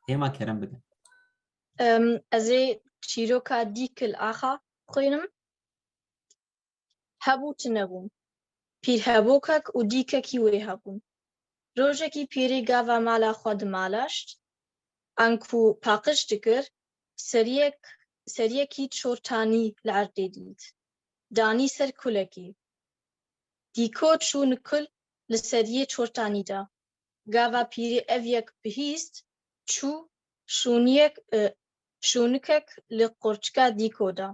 Hêma kerem bike. Ez ê çîroka Dîkil Axa bixwînim. Hebû tunebûn. Pîrhevokek û dîkekî wê hebûn. Rojekî pîrê gava mala xwe dimalaşt. Anku paqij dikir, seriyek seriyekî çor tanî li erdê dît. Danî ser kulekî. Dîko çû nikul li seriyê çor tanî de. gava pîrî ev yek bihîst çû şûniyek şûnikek li qorçika Dîko da.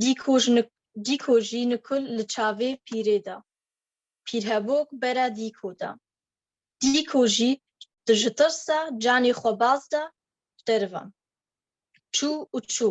Dîko ji Dîko jî nikul li çavê pîrê da. Pîrhebok bera Dîko da. Dîko jî di ji tirsa canê xwe baz da derivan. Çû û çû.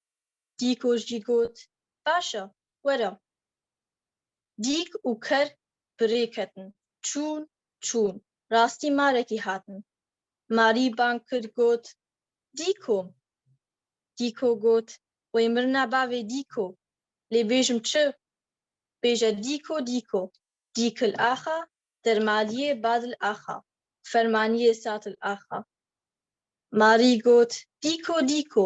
Dîko jî got, Baş e, were. Dîk û ker bi rê ketin, çûn, çûn, rastî marekî hatin. Marî bang kir got, Dîko! Dîko got, Wey mirina bavê Dîko, lê bêjim çi? Bêje Dîko, Dîko, Dîkil axa, Dermaliyê Badil axa, Fermaniyê Satil axa. Marî got, Dîko, Dîko,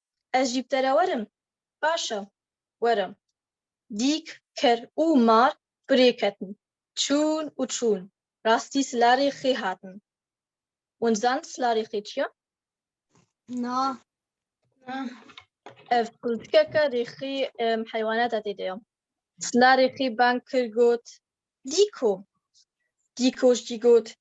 Ez jî bi te re werim? Baş e, werim. Dîk, ker û mar bi rê ketin. Çûn û çûn. Rastî silarê xê hatin. Hûn dizann silarê xê çi ye? Na. Na. Ev qiltikeke rê xê heywanata tê de ye. Silarê xê bang kir got, Dîko! Dîko jî got,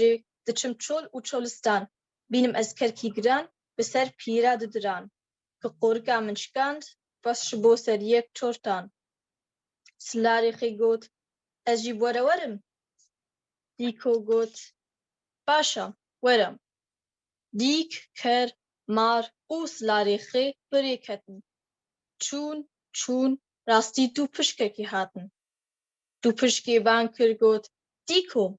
jî diçim çol û çolistan, bînim ez kerkî giran bi ser pîra di diran, ki qorika min şikand rast ji bo ser yek çortan. Silarê xê got, ez jî were werim? Dîko got, baş a, were. Dîk, ker, mar û silarê xê bi rê ketin. Çûn, çûn, rastî du pişkekî hatin. Du pişkê ban kir got, Dîko,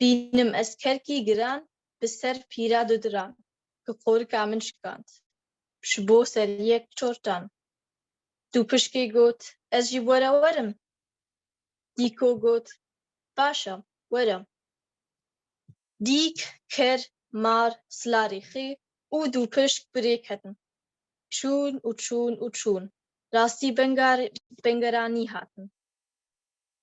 Bînim ez kelkî giran bi ser pîra du diran ki qorika min şikand ji bo ser yek çortan. Du pişkê got ez jî bo re werim? Dîko got baş e were. Dîk, ker, mar, sila rêxî û du pişk bi rê ketin. Çûn û çûn û çûn rastî benga bengeranî hatin.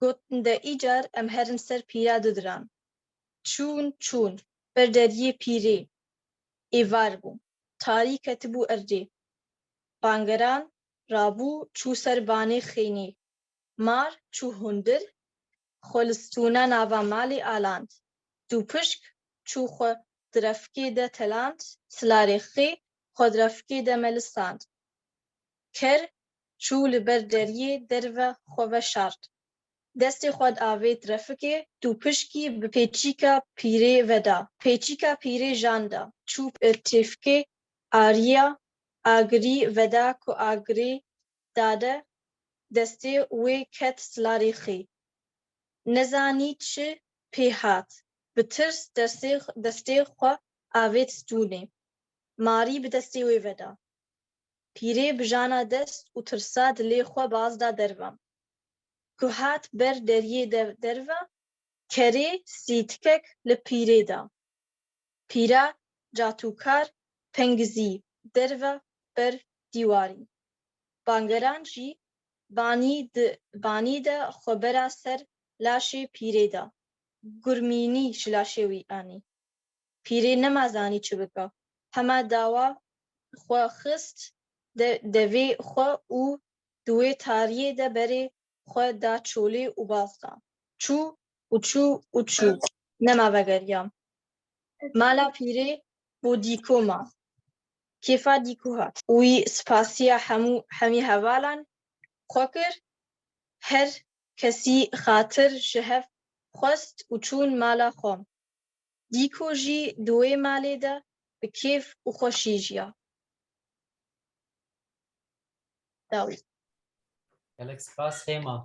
Got de îcar em herin ser pîra du diran. Çûn çûn, ber deriyê pîrê êvar bû. Tarî ketibû erdê. Bangeran rabû çû ser banê xênî. Mar çû hundir, xwe li stûna nava malê aland. Dûpişk çû xwe di refkê de teland, silarê xê xwe di refkê de melisand. Ker çû li ber deriyê derve xwe veşart. Destê xwe di avêt refikê tu pişkî bi pêçîka pîrê veda. Pêçîka pîrê jan da. Çû têfikê ariya agirî veda ku agirê dade destê wê ket silarê xî. Nezanî çi pê hat. Bi tirs destê xwe avêt stûnê. Marî bi destê wê veda. Pîrê bijana dest û tirsa dilê xwe baz da derva. Ku hat ber deriyê de derve, kerê sîtikek li pîrê da. Pîra catûkar pengizî derve ber dîwarî. Bangeran jî banî di banî de xwe bera ser laşê pîrê da. Gurmînî ji laşê wî anî. Pîrê nema zanî çi bika. Hema dawa xwe xist de devê xwe û di wê tariyê de berê xwe da çolê û baz da. Çû û çû û çû. Nema vegeriya. Mala pîrê bo dîko ma. Kêfa dîko hat. Wî spasiya hemû hemî hevalan xwe kir. Her kesî xatir ji hev xwest û çûn mala xwe. Dîko jî di wê malê de bi kêf û xweşî jiya. Dawî. Gelek spas Hêma.